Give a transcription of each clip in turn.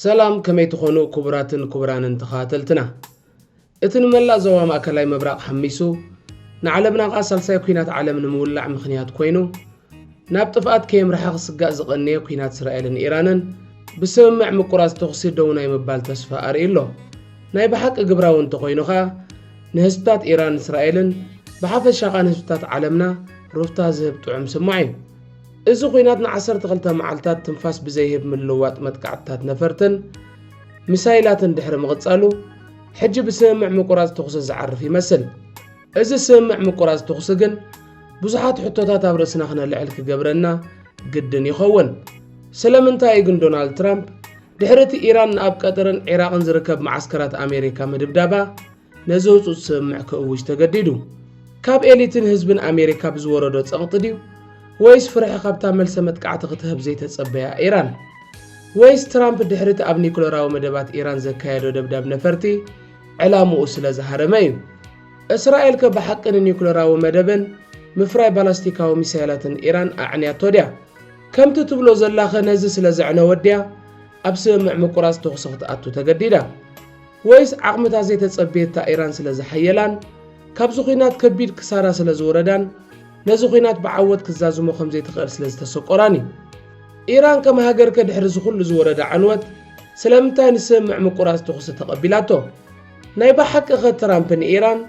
ሰላም ከመይ ትኾኑ ክቡራትን ክቡራንን ተኸታተልትና። እቲ ንመላእ ዞባ ማእከላይ ምብራቕ ሓሚሱ ንዓለምና ከኣ ሳልሳይ ኲናት ዓለም ንምውላዕ ምኽንያት ኮይኑ ናብ ጥፍኣት ከየምርሓ ክስጋእ ዝቐነየ ኲናት እስራኤልን ኢራንን ብስምምዕ ምቁራጽ ተኹሲ ደው ናይ ምባል ተስፋ ኣርእዩ ኣሎ። ናይ ብሓቂ ግብራዊ እንተኾይኑ ከኣ ንህዝብታት ኢራን እስራኤልን ብሓፈሻ ከኣ ንህዝብታት ዓለምና ሩፍታ ዝህብ ጥዑም ስማዕ እዩ። እዚ ኹናት ንዓሰርተ ክልተ መዓልታት ትንፋስ ብዘይህብ ምልውዋጥ መጥቃዕትታት ነፈርትን ሚሳይላትን ድሕሪ ምቕጻሉ ሕጂ ብስምምዕ ምቁራጽ ተኹሲ ዝዓርፍ ይመስል። እዚ ስምምዕ ምቁራጽ ተኹሲ ግን ብዙሓት ሕቶታት ኣብ ርእስና ክነልዕል ክገብረና ግድን ይኸውን። ስለምንታይ እዩ ግን ዶናልድ ትራምፕ ድሕሪ እቲ ኢራን ንኣብ ቀጠርን ዒራቕን ዝርከብ መዓስከራት ኣሜሪካ ምድብዳባ ነዚ ህጹጽ ስምምዕ ክእውጅ ተገዲዱ? ካብ ኤሊትን ህዝብን ኣሜሪካ ብዝወረዶ ጸቕጢ ድዩ? ወይስ ፍርሒ ካብታ መልሰ መጥቃዕቲ ክትህብ ዘይተጸበያ ኢራን? ወይስ ትራምፕ ድሕሪቲ ኣብ ኒኩለራዊ መደባት ኢራን ዘካየዶ ደብዳብ ነፈርቲ ዕላምኡ ስለ ዝሃረመ እዩ? እስራኤል ከ ብሓቂ ንኒኩለራዊ መደብን ምፍራይ ባላስቲካዊ ሚሳይላትን ኢራን ኣዕንያቶ ድያ? ከምቲ ትብሎ ዘላኸ ነዚ ስለ ዘዕነወት ድያ ኣብ ስምምዕ ምቁራጽ ተኹሲ ክትኣቱ ተገዲዳ? ወይስ ዓቕምታት ዘይተጸብየታ ኢራን ስለ ዝሓየላን ካብዚ ኲናት ከቢድ ክሳራ ስለ ዝወረዳን ነዚ ኲናት ብዓወት ክትዛዝሞ ከም ዘይትኽእል ስለ ዝተሰቆራን እዩ? ኢራን ከም ሃገርከ ድሕሪ እዚ ኹሉ ዝወረዳ ዕንወት ስለምንታይ ንስምምዕ ምቁራጽ ተኹሲ ተቐቢላቶ? ናይ ብሓቂኸ ትራምፕ ንኢራን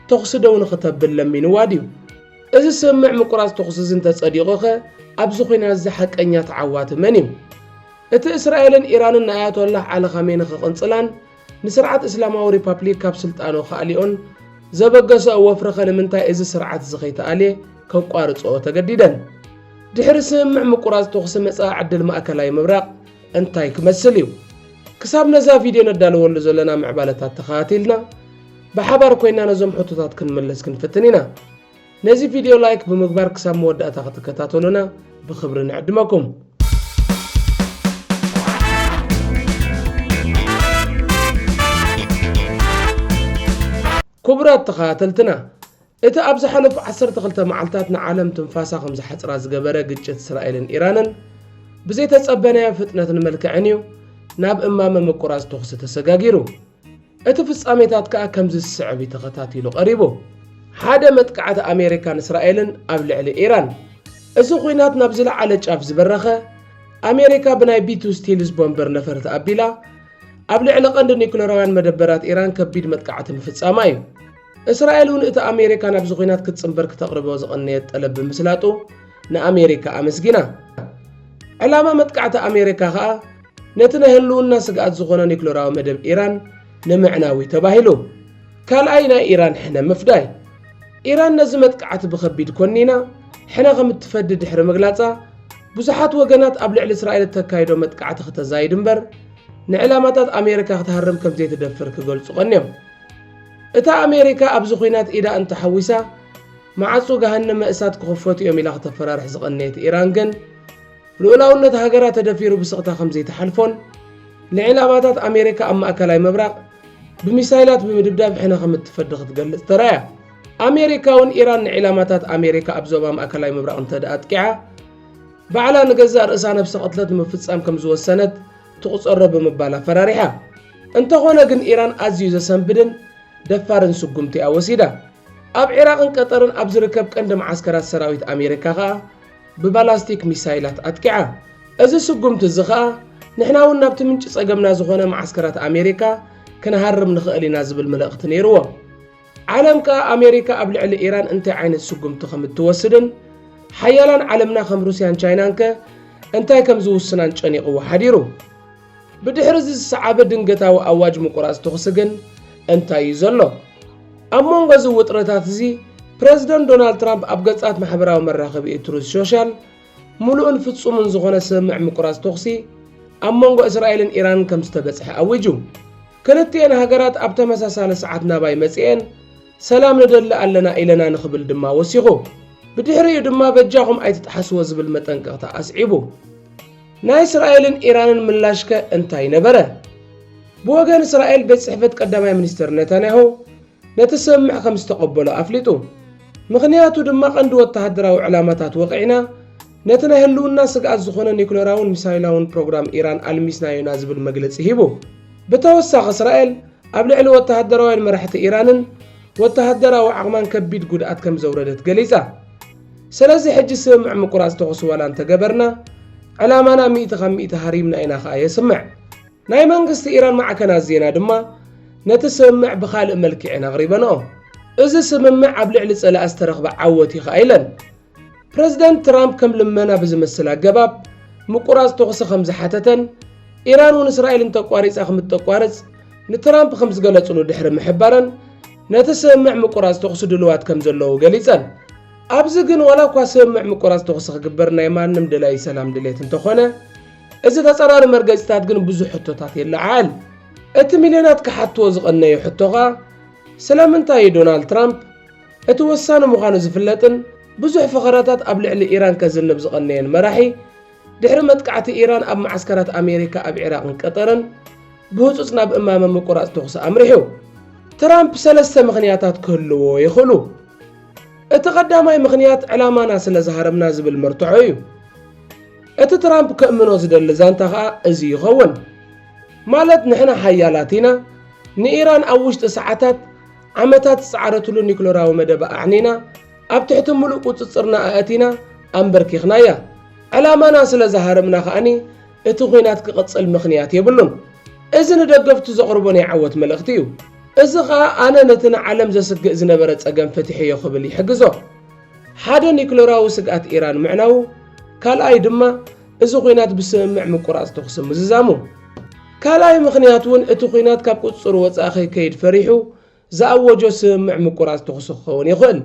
ተኹሲ ደው ንኽተብል ለሚንዋ ድዩ? እዚ ስምምዕ ምቁራጽ ተኹሲ እዚ እንተጸዲቑኸ ኣብዚ ኲናት እዚ ሓቀኛ ተዓዋቲ መን እዩ? እቲ እስራኤልን ኢራንን ንኣያቶላህ ዓሊ ኻሜኒ ክቕንጽላን ንስርዓት እስላማዊ ሪፓፕሊክ ካብ ስልጣኑ ክኣልዮኦን ዘበገሰኦ ወፍሪኸ ንምንታይ እዚ ስርዓትዚ ከይተኣልየ ከቋርጽኦ ተገዲደን? ድሕሪ ስምምዕ ምቁራጽ ተኹሲ መጻኢ ዕድል ማእከላይ ምብራቕ እንታይ ክመስል እዩ? ክሳብ ነዛ ቪድዮ ነዳልወሉ ዘለና ምዕባለታት ተኸታቲልና ብሓባር ኮይና ነዞም ሕቶታት ክንምልስ ክንፍትን ኢና። ነዚ ቪድዮ ላይክ ብምግባር ክሳብ መወዳእታ ክትከታተሉና ብኽብሪ ንዕድመኩም። ክቡራት ተኸታተልትና እቲ ኣብ ዝሓለፉ 12 መዓልታት ንዓለም ትንፋሳ ከም ዝሓፅራ ዝገበረ ግጭት እስራኤልን ኢራንን ብዘይተፀበናዮ ፍጥነትን መልክዕን እዩ ናብ እማመ ምቁራፅ ተኹሲ ተሰጋጊሩ። እቲ ፍጻሜታት ከኣ ከምዚ ዝስዕብ እዩ ተኸታቲሉ ቀሪቡ። ሓደ መጥቃዕቲ ኣሜሪካን እስራኤልን ኣብ ልዕሊ ኢራን። እዚ ኹናት ናብ ዝለዓለ ጫፍ ዝበረኸ፣ ኣሜሪካ ብናይ ቢቱ ስቲልዝ ቦምበር ነፈርቲ ኣቢላ ኣብ ልዕሊ ቀንዲ ኒኩለራውያን መደበራት ኢራን ከቢድ መጥቃዕቲ ምፍጻማ እዩ። እስራኤል እውን እቲ ኣሜሪካ ናብዚ ኹናት ክትጽንበር ክተቕርቦ ዝቐነየት ጠለብ ብምስላጡ ንኣሜሪካ ኣመስጊና። ዕላማ መጥቃዕቲ ኣሜሪካ ከኣ ነቲ ናይ ህልውና ስግኣት ዝኾነ ኒክለራዊ መደብ ኢራን ንምዕናዊ ተባሂሉ ካልኣይ ናይ ኢራን ሕነ ምፍዳይ ኢራን ነዚ መጥቃዕቲ ብኸቢድ ኮኒና ሕነ ከም እትፈዲ ድሕሪ ምግላጻ ብዙሓት ወገናት ኣብ ልዕሊ እስራኤል እተካይዶ መጥቃዕቲ ክተዛይድ እምበር ንዕላማታት ኣሜሪካ ክትሃርም ከም ዘይትደፍር ክገልጹ ቀንዮም እታ ኣሜሪካ ኣብዚ ኩናት ኢዳ እንተሓዊሳ መዓጹ ገሃነመ እሳት ክኽፈቱ እዮም ኢላ ክተፈራርሕ ዝቐነየት ኢራን ግን ልኡላውነት ሃገራ ተደፊሩ ብስቕታ ከምዘይትሓልፎን ንዒላማታት ኣሜሪካ ኣብ ማእከላይ ምብራቕ ብሚሳይላት ብምድብዳብ ሕነ ከም እትፈዲ ክትገልጽ ተራእያ። ኣሜሪካ'ውን ኢራን ንዒላማታት ኣሜሪካ ኣብ ዞባ ማእከላይ ምብራቕ እንተድኣ ኣጥቂዓ ባዕላ ንገዛእ ርእሳ ነብሰ ቅትለት ንምፍጻም ከም ዝወሰነት ትቑጸሮ ብምባል ኣፈራሪሓ። እንተኾነ ግን ኢራን ኣዝዩ ዘሰንብድን ደፋርን ስጉምቲ'ያ ወሲዳ። ኣብ ዒራቕን ቀጠርን ኣብ ዝርከብ ቀንዲ መዓስከራት ሰራዊት ኣሜሪካ ከኣ ብባላስቲክ ሚሳይላት ኣጥቂዓ። እዚ ስጉምቲ እዚ ከኣ ንሕና'ውን ናብቲ ምንጪ ጸገምና ዝኾነ መዓስከራት ኣሜሪካ ክንሃርም ንኽእል ኢና ዝብል ምልእኽቲ ነይርዎ። ዓለም ከኣ ኣሜሪካ ኣብ ልዕሊ ኢራን እንታይ ዓይነት ስጉምቲ ከም እትወስድን ሓያላን ዓለምና ከም ሩስያን ቻይናንከ እንታይ ከም ዝውስናን ጨኒቕዎ ሓዲሩ። ብድሕሪ እዚ ዝሰዓበ ድንገታዊ ኣዋጅ ምቁራጽ ተኹሲ ግን እንታይ እዩ ዘሎ? ኣብ መንጎ እዚ ውጥረታት እዚ ፕረዚደንት ዶናልድ ትራምፕ ኣብ ገጻት ማሕበራዊ መራኸቢኡ ትሩዝ ሾሻል ምሉእን ፍጹምን ዝኾነ ስምምዕ ምቁራጽ ተኹሲ ኣብ መንጎ እስራኤልን ኢራንን ከም ዝተበጽሐ ኣዊጁ። ክልቲኤን ሃገራት ኣብ ተመሳሳሊ ሰዓት ናባይ መጺኤን ሰላም ንደሊ ኣለና ኢለና ንክብል ድማ ወሲኹ። ብድሕሪኡ ድማ በጃኹም ኣይትጥሓስዎ ዝብል መጠንቀቕታ ኣስዒቡ። ናይ እስራኤልን ኢራንን ምላሽከ እንታይ ነበረ? ብወገን እስራኤል ቤት ጽሕፈት ቀዳማይ ሚኒስተር ነታንያሁ ነቲ ስምምዕ ከም ዝተቐበሎ ኣፍሊጡ። ምኽንያቱ ድማ ቀንዲ ወተሃደራዊ ዕላማታት ወቒዕና፣ ነቲ ናይ ህልውና ስግኣት ዝኾነ ኒዩክለራውን ሚሳይላውን ፕሮግራም ኢራን ኣልሚስናዮ'ና ዝብል መግለጺ ሂቡ። ብተወሳኺ እስራኤል ኣብ ልዕሊ ወተሃደራውያን መራሕቲ ኢራንን ወተሃደራዊ ዓቕማን ከቢድ ጉድኣት ከም ዘውረደት ገሊጻ። ሰለዚ ሕጂ ስምምዕ ምቁራጽ ተኹሲ ዋላ እንተገበርና፣ ዕላማና ሚእቲ ካብ ሚእቲ ሃሪምና ኢና ከኣ የስምዕ። ናይ መንግስቲ ኢራን ማዕከናት ዜና ድማ ነቲ ስምምዕ ብኻልእ መልክዔን ኣቕሪበንኦ። እዚ ስምምዕ ኣብ ልዕሊ ጸላኢ ዝተረኽበ ዓወት እዩ ከኣ ኢለን። ፕረዚደንት ትራምፕ ከም ልመና ብዝመስል ኣገባብ ምቁራጽ ተኹሲ ከም ዝሓተተን፣ ኢራን'ውን እስራኤል እንተቋሪጻ ከም እተቋርጽ ንትራምፕ ከም ዝገለጽሉ ድሕሪ ምሕባረን፣ ነቲ ስምምዕ ምቁራጽ ተኹሲ ድሉዋት ከም ዘለዉ ገሊጸን። ኣብዚ ግን ዋላ እኳ ስምምዕ ምቁራጽ ተኹሲ ክግበር ናይ ማንም ደላዪ ሰላም ድሌት እንተኾነ፣ እዚ ተጻራሪ መርገጺታት ግን ብዙሕ ሕቶታት የለዓዕል። እቲ ሚልዮናት ክሓትዎ ዝቐነዩ ሕቶ ከኣ ስለምንታይ እዩ ዶናልድ ትራምፕ እቲ ወሳኒ ምዃኑ ዝፍለጥን ብዙሕ ፈኸራታት ኣብ ልዕሊ ኢራን ከዝንብ ዝቐነየን መራሒ ድሕሪ መጥቃዕቲ ኢራን ኣብ መዓስከራት ኣሜሪካ ኣብ ዒራቕን ቀጠርን ብህጹጽ ናብ እማመ ምቁራጽ ተኹሲ ኣምሪሑ። ትራምፕ ሰለስተ ምኽንያታት ክህልዎ ይኽእሉ። እቲ ቀዳማይ ምኽንያት ዕላማና ስለ ዝሃረምና ዝብል መርትዖ እዩ። እቲ ትራምፕ ከእምኖ ዝደሊ ዛንታ ከኣ እዚ ይኸውን። ማለት ንሕና ሓያላት ኢና፣ ንኢራን ኣብ ውሽጢ ሰዓታት ዓመታት ዝጸዓረትሉ ኒክለራዊ መደባ ኣዕኒና፣ ኣብ ትሕቲ ምሉእ ቁጽጽርና ኣእቲና ኣምበርኪኽናያ። ዕላማና ስለ ዝሃረምና ከኣኒ እቲ ኲናት ክቕጽል ምኽንያት የብሉን። እዚ ንደገፍቱ ዘቕርቦ ናይ ዓወት መልእኽቲ እዩ። እዚ ከኣ ኣነ ነቲ ንዓለም ዘስግእ ዝነበረ ጸገም ፈቲሐዮ ክብል ይሕግዞ። ሓደ ኒክለራዊ ስግኣት ኢራን ምዕናዉ፣ ካልኣይ ድማ እዚ ኲናት ብስምምዕ ምቁራጽ ተኹሲ ምዝዛሙ። ካልኣይ ምኽንያት እውን እቲ ኲናት ካብ ቁጽጽሩ ወጻኢ ከይከይድ ፈሪሑ ዝኣወጆ ስምምዕ ምቁራጽ ተዅሲ ክኸውን ይኽእል።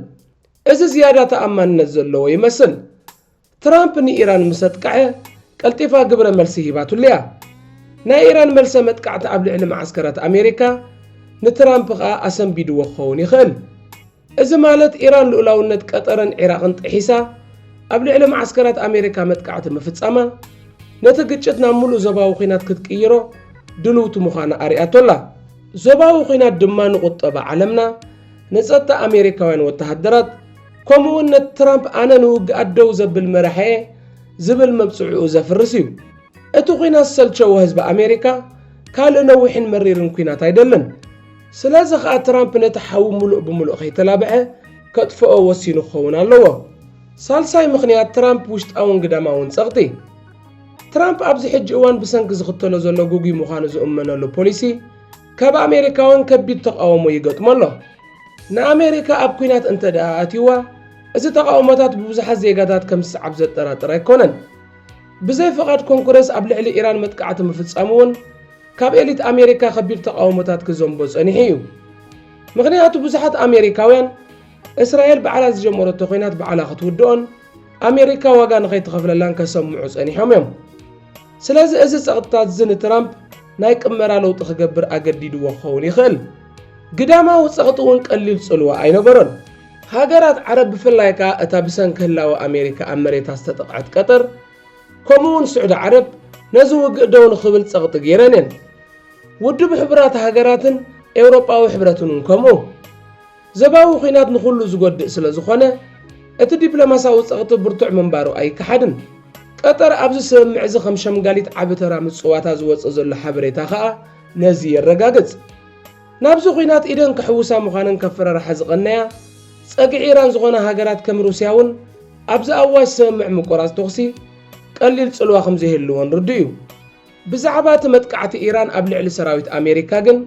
እዚ ዝያዳ ተኣማንነት ዘለዎ ይመስል። ትራምፕ ንኢራን ምስ ኣጥቅዐ ቀልጢፋ ግብረ መልሲ ሂባትሉ እያ። ናይ ኢራን መልሰ መጥቃዕቲ ኣብ ልዕሊ መዓስከራት ኣሜሪካ ንትራምፕ ከኣ ኣሰንቢድዎ ክኸውን ይኽእል። እዚ ማለት ኢራን ልኡላውነት ቀጠርን ዒራቕን ጥሒሳ ኣብ ልዕሊ መዓስከራት ኣሜሪካ መጥቃዕቲ ምፍጻማ ነቲ ግጭት ናብ ምሉእ ዞባዊ ኲናት ክትቅይሮ ድልውቲ ምዃና ኣርእያቶ ኣላ። ዞባዊ ኲናት ድማ ንቑጠባ ዓለምና፣ ንጸጥታ ኣሜሪካውያን ወተሃደራት፣ ከምኡ'ውን ነቲ ትራምፕ ኣነ ንውግኣት ደው ዘብል መራሒ'የ ዝብል መብጽዕኡ ዘፍርስ እዩ። እቲ ኲናት ዝሰልቸዎ ህዝቢ ኣሜሪካ ካልእ ነዊሕን መሪርን ኲናት ኣይደልን። ስለዚ ከኣ ትራምፕ ነቲ ሓዊ ምሉእ ብምሉእ ከይተላብዐ ከጥፍኦ ወሲኑ ክኸውን ኣለዎ። ሳልሳይ ምኽንያት ትራምፕ ውሽጣውን ግዳማውን ጸቕጢ። ትራምፕ ኣብዚ ሕጂ እዋን ብሰንኪ ዝኽተሎ ዘሎ ግጉይ ምዃኑ ዝእመነሉ ፖሊሲ ካብ ኣሜሪካውያን ከቢድ ተቓውሞ ይገጥሞ ኣሎ። ንኣሜሪካ ኣብ ኲናት እንተድኣ ኣእትዩዋ፣ እዚ ተቓውሞታት ብብዙሓት ዜጋታት ከም ዝስዓብ ዘጠራጥር ኣይኮነን። ብዘይ ፍቓድ ኮንግረስ ኣብ ልዕሊ ኢራን መጥቃዕቲ ምፍጻሙ'ውን ካብ ኤሊት ኣሜሪካ ከቢድ ተቓውሞታት ክዘንቦ ጸኒሑ እዩ። ምኽንያቱ ብዙሓት ኣሜሪካውያን እስራኤል ባዕላ ዝጀመረቶ ኲናት ባዕላ ክትውድኦን ኣሜሪካ ዋጋ ንኸይትኸፍለላን ከሰምዑ ጸኒሖም እዮም። ስለዚ እዚ ጸቕጥታት'ዚ ንትራምፕ ናይ ቅመራ ለውጢ ክገብር ኣገዲድዎ ክኸውን ይኽእል። ግዳማዊ ጸቕጢ እውን ቀሊል ጽልዋ ኣይነበሮን። ሃገራት ዓረብ ብፍላይ ከኣ እታ ብሰንኪ ህላወ ኣሜሪካ ኣብ መሬታ ዝተጠቕዐት ቀጠር ከምኡ'ውን ስዑዲ ዓረብ ነዚ ውግእ ደው ንኽብል ጸቕጢ ገይረን እየን። ውድብ ሕቡራት ሃገራትን ኤውሮጳዊ ሕብረትን እውን ከምኡ። ዞባዊ ኲናት ንኹሉ ዝጎድእ ስለ ዝኾነ፣ እቲ ዲፕሎማሳዊ ጸቕጢ ብርቱዕ ምንባሩ ኣይከሓድን። ቀጠር ኣብዚ ስምምዕ'ዚ ከም ሸምጋሊት ዓቢ ተራ ምጽዋታ ዝወጽእ ዘሎ ሓበሬታ ከኣ ነዚ የረጋግጽ። ናብዚ ኲናት ኢደን ክሕውሳ ምዃነን ከፈራርሓ ዝቐነያ ጸግዒ ኢራን ዝኾና ሃገራት ከም ሩስያ'ውን ኣብ ዝኣዋጅ ስምምዕ ምቁራጽ ተኹሲ ቀሊል ጽልዋ ከም ዘይህልወን ርዱእ'ዩ። ብዛዕባ እቲ መጥቃዕቲ ኢራን ኣብ ልዕሊ ሰራዊት ኣሜሪካ ግን፣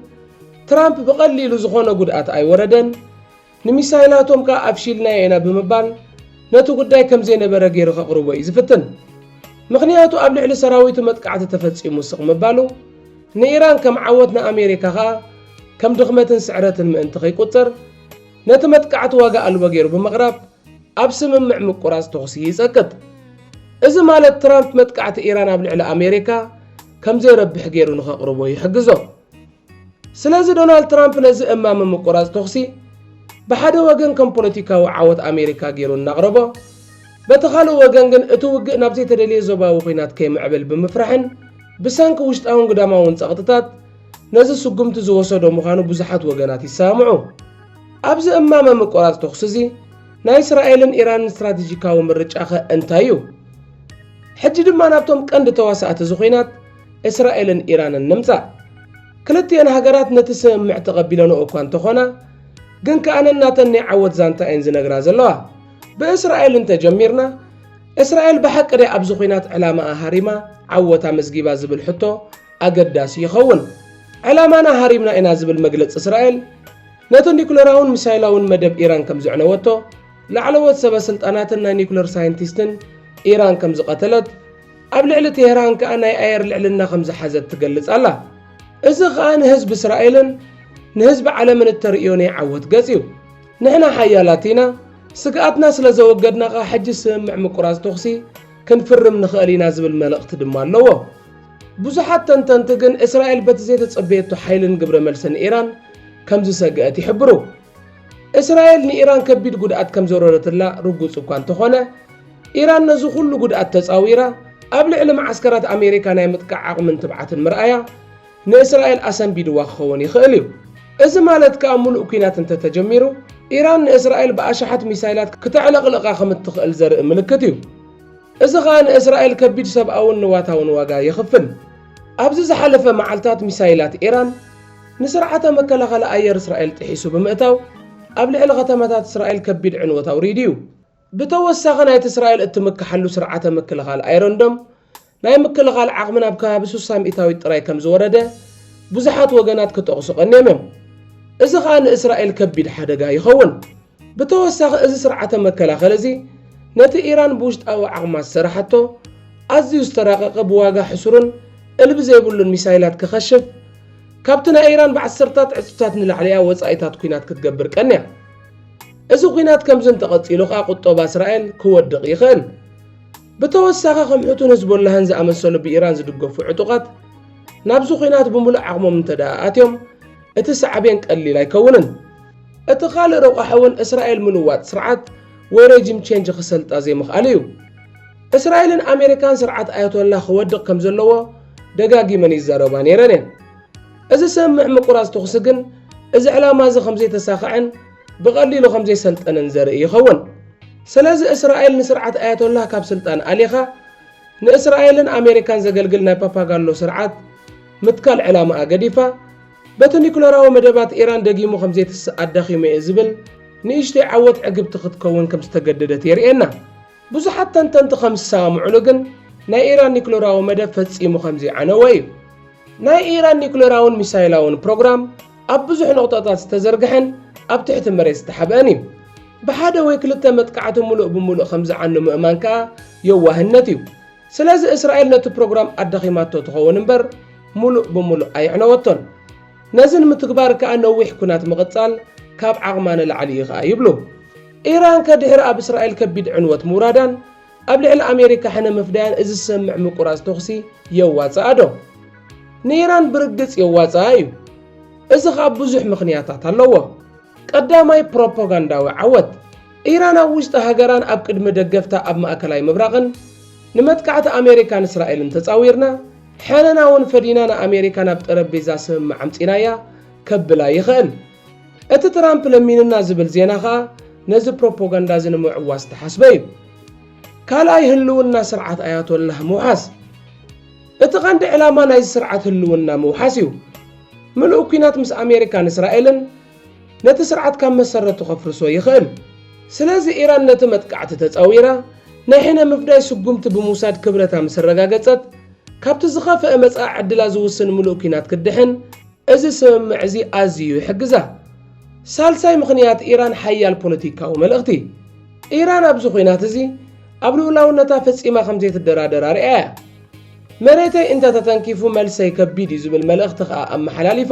ትራምፕ ብቐሊሉ ዝዀነ ጕድኣት ኣይወረደን፣ ንሚሳይላቶም ከኣ ኣፍሺልናዮ ኢና ብምባል ነቲ ጕዳይ ከም ዘይነበረ ገይሩ ከቕርቦ እዩ ዝፍትን። ምኽንያቱ ኣብ ልዕሊ ሰራዊቱ መጥቃዕቲ ተፈጺሙ ስቕ ምባሉ፣ ንኢራን ከም ዓወት ንኣሜሪካ ከኣ ከም ድኽመትን ስዕረትን ምእንቲ ከይቍጸር፣ ነቲ መጥቃዕቲ ዋጋ ኣልቦ ገይሩ ብምቕራብ፣ ኣብ ስምምዕ ምቁራጽ ተኹሲ ይጸቅጥ። እዚ ማለት ትራምፕ መጥቃዕቲ ኢራን ኣብ ልዕሊ ኣሜሪካ ከም ዘይረብሕ ገይሩ ንኸቕርቦ ይሕግዞ። ስለዚ ዶናልድ ትራምፕ ነዚ እማመ ምቁራጽ ተኹሲ ብሓደ ወገን ከም ፖለቲካዊ ዓወት ኣሜሪካ ገይሩ እናቕረቦ፣ በቲ ካልእ ወገን ግን እቲ ውግእ ናብ ዘይተደልየ ዞባዊ ኲናት ከይምዕብል ብምፍራሕን ብሰንኪ ውሽጣውን ግዳማውን ጸቕጥታት ነዚ ስጉምቲ ዝወሰዶ ምዃኑ ብዙሓት ወገናት ይሰማምዑ። ኣብዚ እማመ ምቁራጽ ተኹሲ'ዚ ናይ እስራኤልን ኢራንን ስትራቴጂካዊ ምርጫኸ እንታይ እዩ? ሕጂ ድማ ናብቶም ቀንዲ ተዋሳእቲ'ዚ ኹናት እስራኤልን ኢራንን ንምጻእ። ክልቲኤን ሃገራት ነቲ ስምምዕ ተቐቢለንኦ እኳ እንተኾና ግን ከኣ ነናተን ናይ ዓወት ዛንታ እየን ዝነግራ ዘለዋ። ብእስራኤል እንተጀሚርና እስራኤል ብሓቂ ድያ ኣብዚ ኹናት ዕላማኣ ሃሪማ ዓወት ኣመዝጊባ ዝብል ሕቶ ኣገዳሲ ይኸውን። ዕላማና ሃሪምና ኢና ዝብል መግለጺ እስራኤል፣ ነቲ ኒዩክለራውን ሚሳይላውን መደብ ኢራን ከም ዘዕነወቶ፣ ላዕለዎት ሰበስልጣናትን ናይ ኒዩክለር ሳይንቲስትን ኢራን ከም ዝቐተለት፣ ኣብ ልዕሊ ቴህራን ከኣ ናይ ኣየር ልዕልና ከም ዝሓዘት ትገልጽ ኣላ። እዚ ከኣ ንህዝቢ እስራኤልን ንህዝቢ ዓለምን እተርእዮ ናይ ዓወት ገጽ እዩ። ንሕና ሓያላት ኢና፣ ስግኣትና ስለ ዘወገድና ከኣ ሕጂ ስምምዕ ምቁራጽ ተኹሲ ክንፍርም ንኽእል ኢና ዝብል መልእኽቲ ድማ ኣለዎ። ብዙሓት ተንተንቲ ግን እስራኤል በቲ ዘይተጸበየቶ ሓይልን ግብረ መልስን ኢራን፣ ከምዝሰግአት ይሕብሩ። እስራኤል ንኢራን ከቢድ ጉድኣት ከምዘውረደትላ ርጉጽ እኳ እንተኾነ፣ ኢራን ነዚ ኩሉ ጉድኣት ተጻዊራ ኣብ ልዕሊ መዓስከራት ኣሜሪካ ናይ ምጥቃዕ ዓቕምን ትብዓትን ምርኣያ ንእስራኤል ኣሰንቢድዋ ክኸውን ይኽእል እዩ። እዚ ማለት ከኣ ምሉእ ኲናት እንተተጀሚሩ ኢራን ንእስራኤል ብኣሽሓት ሚሳይላት ክተዕለቕልቓ ከምትኽእል ዘርኢ ምልክት እዩ። እዚ ከኣ ንእስራኤል ከቢድ ሰብኣውን ንዋታውን ዋጋ የኽፍል። ኣብዚ ዝሓለፈ መዓልታት ሚሳይላት ኢራን፣ ንስርዓተ መከላኸሊ ኣየር እስራኤል ጥሒሱ ብምእታው ኣብ ልዕሊ ከተማታት እስራኤል ከቢድ ዕንወት ኣውሪዱ እዩ። ብተወሳኺ ናይቲ እስራኤል እትምከሓሉ ስርዓተ ምክልኻል ኣይሮን ዶም ናይ ምክልኻል ዓቕሚ ናብ ከባቢ ስሳ ሚእታዊት ጥራይ ከም ዝወረደ ብዙሓት ወገናት ክጠቕሱ ቀንዮም እዮም። እዚ ከኣ ንእስራኤል ከቢድ ሓደጋ ይኸውን። ብተወሳኺ እዚ ስርዓተ መከላኸሊ እዚ ነቲ ኢራን ብውሽጣዊ ዓቕማ ዝሰራሓቶ ኣዝዩ ዝተራቐቐ ብዋጋ ሕሱርን እልቢ ዘይብሉን ሚሳይላት ክኸሽፍ ካብቲ ናይ ኢራን ብዓሰርታት ዕጽፍታት ንላዕሊያ ወጻኢታት ኩናት ክትገብር ቀንያ። እዚ ኩናት ከምዚ እንተቐጺሉ ከኣ ቁጠባ እስራኤል ክወድቕ ይኽእል። ብተወሳኺ ከም ሕቱን ህዝቦላህን ዝኣመሰሉ ብኢራን ዝድገፉ ዕጡቓት ናብዚ ኩናት ብምሉእ ዓቕሞም እንተደኣ ኣትዮም እቲ ሳዕቤን ቀሊል ኣይከውንን። እቲ ካልእ ረቋሒ'ውን እስራኤል ምልዋጥ ስርዓት ወይ ረጂም ቼንጅ ክሰልጣ ዘይምኽኣል እዩ። እስራኤልን ኣሜሪካን ስርዓት ኣያቶላህ ክወድቕ ከም ዘለዎ ደጋጊመን ይዛረባ ነይረን እየን። እዚ ሰምምዕ ምቁራጽ ተኹሲ ግን እዚ ዕላማ'ዚ ከም ዘይተሳኸዐን ብቐሊሉ ከም ዘይሰልጠንን ዘርኢ ይኸውን። ስለዚ እስራኤል ንስርዓት ኣያቶላህ ካብ ስልጣን ኣሊኻ ንእስራኤልን ኣሜሪካን ዘገልግል ናይ ፓፓጋሎ ስርዓት ምትካል ዕላማኣ ገዲፋ፣ በቲ ኒዩክለራዊ መደባት ኢራን ደጊሙ ከም ዘይትስእ ኣዳኺሙ'የ ዝብል ንእሽተይ ዓወት ዕግብቲ ክትከውን ከም ዝተገደደት የርእየና። ብዙሓት ተንተንቲ ከም ዝሰማምዑሉ ግን ናይ ኢራን ኒዩክለራዊ መደብ ፈጺሙ ከም ዘይዓነወ እዩ። ናይ ኢራን ኒዩክለራውን ሚሳይላውን ፕሮግራም ኣብ ብዙሕ ነቑጣታት ዝተዘርግሐን ኣብ ትሕቲ መሬት ዝተሓብአን እዩ። ብሓደ ወይ ክልተ መጥቃዕቲ ምሉእ ብምሉእ ከም ዝዓኑ ምእማን ከኣ የዋህነት እዩ። ስለዚ እስራኤል ነቲ ፕሮግራም ኣዳኺማቶ ትኸውን እምበር ሙሉእ ብሙሉእ ኣየዕነወቶን። ነዚ ንምትግባር ከኣ ነዊሕ ኲናት ምቕጻል ካብ ዓቕማ ንላዕሊ እዩ ከኣ ይብሉ። ኢራንከ ድሕሪ ኣብ እስራኤል ከቢድ ዕንወት ምውራዳን ኣብ ልዕሊ ኣሜሪካ ሕነ ምፍዳያን እዚ ዝሰምዕ ምቁራጽ ተኹሲ የዋጽኣዶ? ንኢራን ብርግጽ የዋጽኣ እዩ። እዚ ከኣ ብዙሕ ምኽንያታት ኣለዎ። ቀዳማይ ፕሮፖጋንዳዊ ዓወት። ኢራን ኣብ ውሽጢ ሃገራን ኣብ ቅድሚ ደገፍታ ኣብ ማእከላይ ምብራቕን ንመጥቃዕቲ ኣሜሪካን እስራኤልን ተጻዊርና፣ ሕነና እውን ፈዲና ንኣሜሪካ ናብ ጠረጴዛ ስምምዕ ኣምጺእናያ ከብላ ይኽእል። እቲ ትራምፕ ለሚኑና ዝብል ዜና ከኣ ነዚ ፕሮፖጋንዳ እዚ ንምዕዋት ዝተሓስበ እዩ። ካልኣይ ህልውና ስርዓት ኣያቶላህ ምውሓስ። እቲ ቀንዲ ዕላማ ናይዚ ስርዓት ህልውና ምውሓስ እዩ። ምሉእ ኲናት ምስ ኣሜሪካን እስራኤልን ነቲ ስርዓት ካብ መሰረቱ ከፍርሶ ይኽእል። ስለዚ ኢራን ነቲ መጥቃዕቲ ተጻዊራ ናይ ሕነ ምፍዳይ ስጉምቲ ብምውሳድ ክብረታ ምስ ኣረጋገጸት፣ ካብቲ ዝኸፍኣ መጻኢ ዕድላ ዝውስን ምሉእ ኲናት ክትድሕን እዚ ስምምዕ እዚ ኣዝዩ ይሕግዛ። ሳልሳይ ምኽንያት ኢራን ሓያል ፖለቲካዊ መልእኽቲ። ኢራን ኣብዚ ኲናት እዚ ኣብ ልኡላውነታ ፈጺማ ከም ዘይትደራደር ኣርእያ እያ። መሬተይ እንተ ተተንኪፉ መልሰይ ከቢድ እዩ ዝብል መልእኽቲ ከኣ ኣመሓላሊፋ።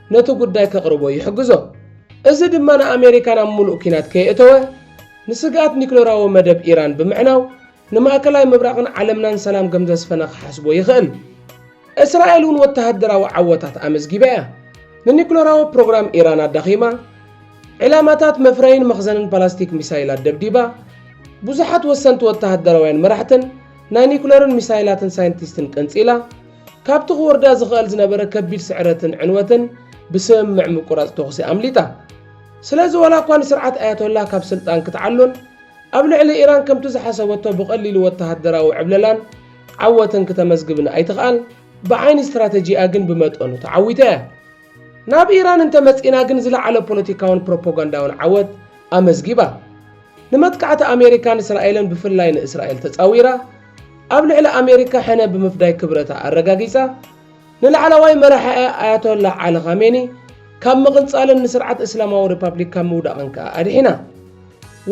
ነቲ ጉዳይ ከቕርቦ ይሕግዞ። እዚ ድማ ንኣመሪካ ናብ ምሉእ ኲናት ከየእተወ ንስግኣት ኒክለራዊ መደብ ኢራን ብምዕናው ንማእከላይ ምብራቕን ዓለምናን ሰላም ከም ዘስፈነ ክሓስቦ ይኽእል። እስራኤል እውን ወተሃደራዊ ዓወታት ኣመዝጊባ እያ። ንኒክለራዊ ፕሮግራም ኢራን ኣዳኺማ፣ ዒላማታት መፍረይን መኽዘንን ፓላስቲክ ሚሳይላት ደብዲባ፣ ብዙሓት ወሰንቲ ወተሃደራውያን መራሕትን ናይ ኒክለርን ሚሳይላትን ሳይንቲስትን ቀንጺላ፣ ካብቲ ክወርዳ ዝኽእል ዝነበረ ከቢድ ስዕረትን ዕንወትን ብስምምዕ ምቁራጽ ተኹሲ ኣምሊጣ። ስለዚ ዋላኳ ንስርዓት ኣያቶላህ ካብ ስልጣን ክትዓሉን ኣብ ልዕሊ ኢራን ከምቲ ዝሓሰበቶ ብቐሊሉ ወተሃደራዊ ዕብለላን ዓወትን ክተመዝግብን ኣይትኽኣል፣ ብዓይኒ ስትራተጂኣ ግን ብመጠኑ ተዓዊታ እያ። ናብ ኢራን እንተመጺእና ግን ዝለዓለ ፖለቲካውን ፕሮፖጋንዳውን ዓወት ኣመዝጊባ። ንመጥቃዕቲ ኣሜሪካን እስራኤልን ብፍላይ ንእስራኤል ተጻዊራ፣ ኣብ ልዕሊ ኣሜሪካ ሕነ ብምፍዳይ ክብረታ ኣረጋጊጻ፣ ንላዕላዋይ መራሒኣ ኣያቶላህ ዓሊ ኻሜኒ ካብ ምቕንጻልን ንስርዓት እስላማዊ ሪፓብሊክ ካብ ምውዳቕን ከኣ ኣድሒና።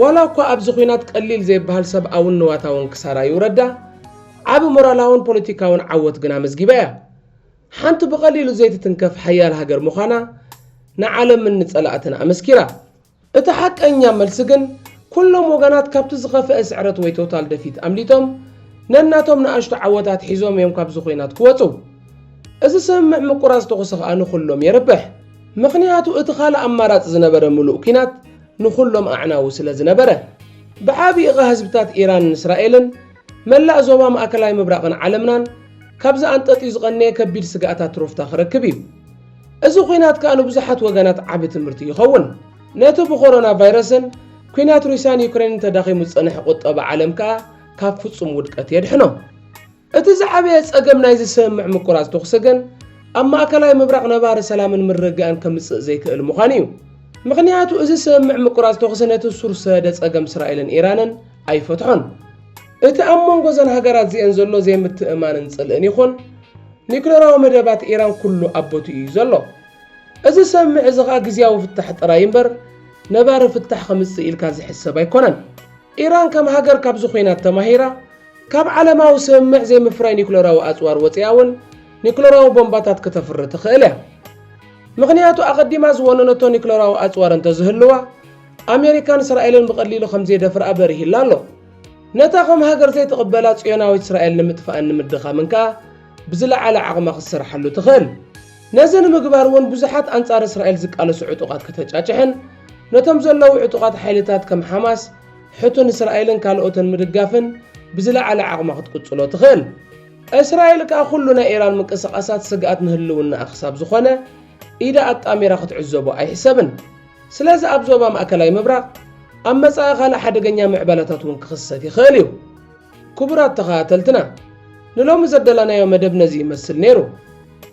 ዋላ እኳ ኣብዚ ኲናት ቀሊል ዘይበሃል ሰብኣውን ንዋታውን ክሳራ ይውረዳ፣ ዓቢ ሞራላውን ፖለቲካውን ዓወት ግን ኣመዝጊባ እያ። ሓንቲ ብቐሊሉ ዘይትትንከፍ ሓያል ሃገር ምዃና ንዓለምን ንጸላእትን ኣመስኪራ። እቲ ሓቀኛ መልሲ ግን ኩሎም ወገናት ካብቲ ዝኸፈኤ ስዕረት ወይ ቶታል ደፊት ኣምሊጦም ነናቶም ንኣሽቱ ዓወታት ሒዞም እዮም ካብዚ ኹናት ክወጹ። እዚ ስምምዕ ምቁራጽ ተኹሲ ከኣ ንኹሎም የርብሕ። ምኽንያቱ እቲ ካልእ ኣማራጺ ዝነበረ ምሉእ ኩናት ንኹሎም ኣዕናዊ ስለዝነበረ። ብዓቢኡ ከኣ ህዝብታት ኢራንን እስራኤልን መላእ ዞባ ማእከላይ ምብራቕን ዓለምናን ካብዚ ኣንጠጥዩ ዝቐነየ ከቢድ ስግኣታት ትሮፍታ ክረክብ እዩ። እዚ ኲናት ከኣ ንብዙሓት ወገናት ዓቢ ትምህርቲ ይኸውን። ነቲ ብኮሮና ቫይረስን ኲናት ሩስያን ዩክሬንን ተዳኺሙ ዝጸንሐ ቁጠባ ዓለም ከኣ ካብ ፍጹም ውድቀት የድሕኖ። እቲ ዝዓበየ ጸገም ናይዚ ስምምዕ ምቁራጽ ተኹሲ ግን ኣብ ማእከላይ ምብራቕ ነባሪ ሰላምን ምርግጋእን ከምጽእ ዘይክእል ምዃኑ እዩ። ምኽንያቱ እዚ ስምምዕ ምቁራጽ ተኹሲ ነቲ ሱር ዝሰደደ ጸገም እስራኤልን ኢራንን ኣይፈትሖን። እቲ ኣብ መንጎ እዘን ሃገራት እዚኤን ዘሎ ዘይምትእምማንን ጽልእን ይኹን ኒዩክለራዊ መደባት ኢራን ኩሉ ኣብ ቦትኡ እዩ ዘሎ። እዚ ሰምምዕ እዚ ከኣ ግዝያዊ ፍታሕ ጥራይ እምበር ነባሪ ፍታሕ ከምጽእ ኢልካ ዝሕሰብ ኣይኮነን። ኢራን ከም ሃገር ካብዚ ኹናት ተማሂራ ካብ ዓለማዊ ሰምምዕ ዘይምፍራይ ኒዩክለራዊ ኣጽዋር ወጺኣ እውን ኒዩክለራዊ ቦምባታት ክተፍሪ ትኽእል እያ። ምኽንያቱ ኣቐዲማ ዝወነነቶ ኒዩክለራዊ ኣጽዋር እንተዝህልዋ፣ ኣሜሪካን እስራኤልን ብቐሊሉ ከም ዜደፍርኣ በሪህላ ኣሎ። ነታ ኸም ሃገር ዘይትቕበላ ጽዮናዊት እስራኤል ንምጥፋእን ንምድኻምን ከኣ ብዝለዓለ ዓቕማ ኽትሰርሓሉ ትኽእል። ነዚ ንምግባር እውን ብዙሓት ኣንጻር እስራኤል ዚቃለሱ ዕጡቓት ከተጫጭሕን ነቶም ዘለዉ ዕጡቓት ሓይልታት ከም ሓማስ፣ ሕቱን እስራኤልን ካልኦትን ምድጋፍን ብዝለዓለ ዓቕማ ኽትቅጽሎ ትኽእል። እስራኤል ከኣ ዅሉ ናይ ኢራን ምንቅስቓሳት ስግኣት ንህልውናኣ ክሳብ ዝዀነ ኢዳ ኣጣሚራ ኽትዕዘቦ ኣይሕሰብን። ስለዚ ኣብ ዞባ ማእከላይ ምብራቕ ኣብ መጻኢ ካልእ ሓደገኛ ምዕባለታት እውን ክኽሰት ይኽእል እዩ። ክቡራት ተኸታተልትና ንሎሚ ዘደላናዮ መደብ ነዚ ይመስል ነይሩ።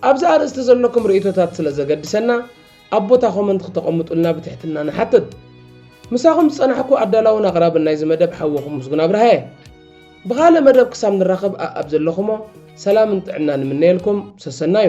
ኣብዚ ኣርእስቲ ዘለኩም ርእይቶታት ስለ ዘገድሰና ኣብ ቦታ ኮመንት ክተቐምጡልና ብትሕትና ንሓትት። ምሳኹም ዝጸናሕኩ ኣዳላውን ኣቕራብን ናይዚ መደብ ሓወኹም ምስጉን ኣብርሃ እየ። ብኻልእ መደብ ክሳብ ንራኸብ ኣኣብ ዘለኹሞ ሰላምን ጥዕናን እምነየልኩም ሰሰናዩ።